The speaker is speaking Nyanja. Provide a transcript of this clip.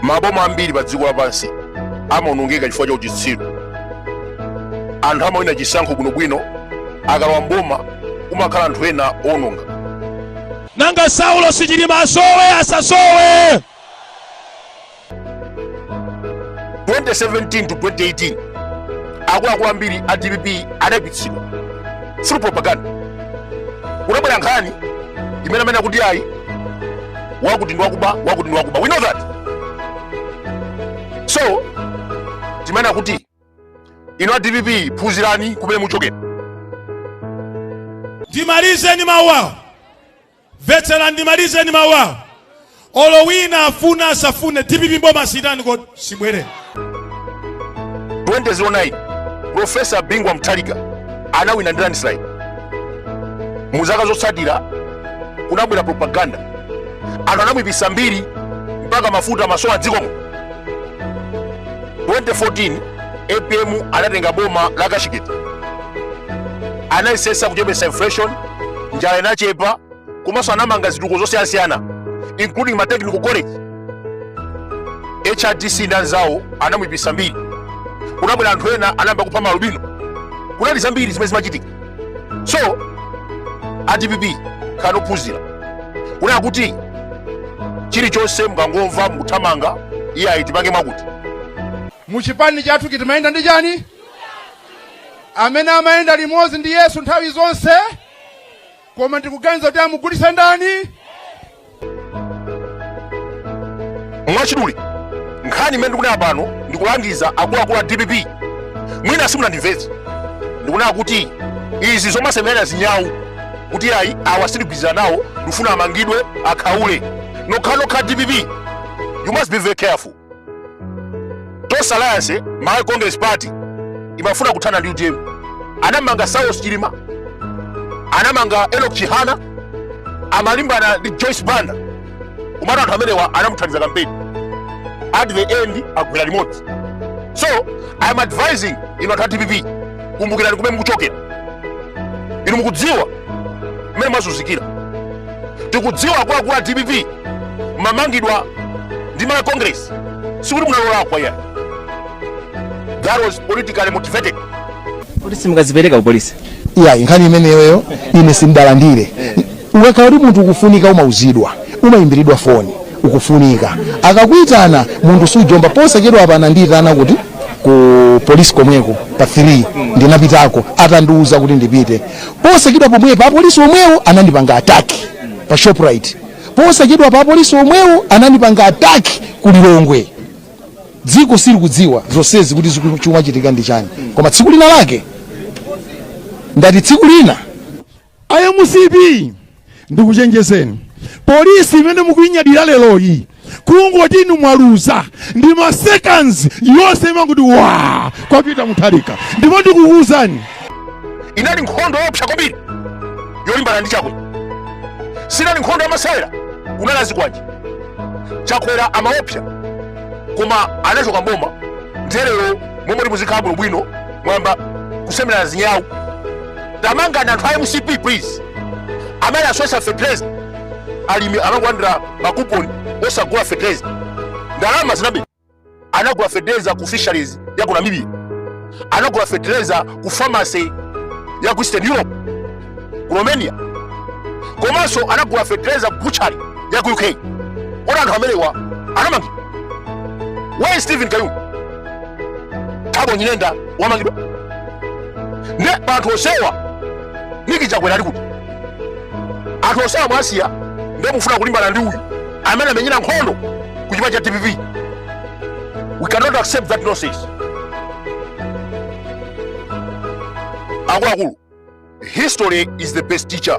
maboma ambiri pa dziko lapansi amaonongeka chifukwa cha uchitsiru anthu amawina chisankho bwinobwino akalowa mboma kumakhala anthu ena owononga nanga saulosi chilima asowe asasowe 2017 to 2018 akuluakulu ambiri a dpp adaipitsidwa through propaganda kunabwera nkhani imene amanena kuti ayi wakuti ndi wakuba wakuti ndi wakuba we know that so timanena kuti inu a dpp phunzirani kumene muchokera ndimalize ndi mawu awa Mvetsera ndimalize ndi mawu awo. Olo wina afune asafune dpp mboma sitani kodi sibwerera. 2009 Profesa Bingu wa Mutharika anawina ndi landslide. Mu zaka zotsatira kunabwera propaganda, anthu anamwipisa mbiri mpaka mafuta amasowa dziko muno. 2014 APM anatenga boma la cashgate, anayesesa kuchepesa inflation njala inachepa komanso anamanga zitukuko zosiyanasiyana including ma technical college hrdc ndi anzawo anamuyipisa mbiri kunabwera anthu ena anayamba kupha ma alubino kunali zambiri zimene zimachitika so a dpp khala ophunzira kunena kuti chilichonse mukangomva mukuthamanga iyayi tipange mwakuti muchipani chathuchi timayenda ndi chani amene amayenda limodzi ndi yesu nthawi zonse koma ndikuganiza kuti amugulitsa ndani mwachidule nkhani imene ndikunena pano ndikulangiza akuluakulu a dpp mwina simunandimvetse ndikunena kuti izi zomasemerera zinyawu kuti ayi awa sindigwirizana nawo ndikufuna amangidwe akhaule nokhanokha dpp you must be very careful Tonse Alliance Malawi Congress Party imafuna kuthana ndi UTM. Anamanga Saulos Chilima, anamanga Enoch Chihana, amalimbana ndi Joyce Banda. Komatu anthu amenewa anamuthandiza kampeni. At the end agwera limodzi. So I am advising inu anthu a DPP kumbukirani kumene mukuchokera. Inu mukudziwa mmene mwazunzikira. Tikudziwa akuluakulu a DPP mumamangidwa ndi malawi congress sikuti munalakwa iyayi that was politically motivated kuti simukazipereka kupolisi iyayi nkhani imeneyoyo ine sindalandire ukakhala kuti munthu ukufunika umauzidwa umayimbiridwa foni ukufunika akakuitana munthu sujomba posachedwa apa anandiyitana kuti ku polisi komweko pa 3 ndinapitako atandiuza kuti ndipite posachedwa pomwepo apolisi omwewo anandipanga attack pa shoprite Posachedwapa apolisi omwewo anandipanga attack ku Lilongwe. Dziko silikudziwa zonsezi kuti chikumachitika ndi chani, koma tsiku lina lake ndati tsiku lina A mcp ndikuchenjezeni, polisi imene mukuinyadira leroyi kungoti inu mwaluza ndi ma seconds yonse imanguti wa kwa Peter Mutharika ndipo ndikukuwuzani inali nkhondo yoopsa kwambiri yolimbana ndi chakwera sinali nkhondo yamasewera kunali azikwanje chakwera amaopsa koma anachoka mboma nde lero mmalo moti muzikhala bwinobwino mwamba kusemerana zinyawu tamanganani anthu a mcp please amene anasowetsa fertilizer alimi amangolandira makuponi osagula fertilizer ndalama zinabedwa anagula fertilizer ku fisheries ya ku namibia anagula fertilizer ku pharmacy ya ku eastern europe ku romania komanso anagula fertilizer ku butchery ya ku uk kodi anthu amenewa anamangidwa where is stephen kayuni thabo nyirenda wamangidwa ne anthu onsewa niki chakwera ali kuti anthu onsewa mwasiya nde mufuna kulimbana ndi uyu amene amenyera nkhondo ku chipani cha dpp we cannot accept that nonsense akuluakulu history is the best teacher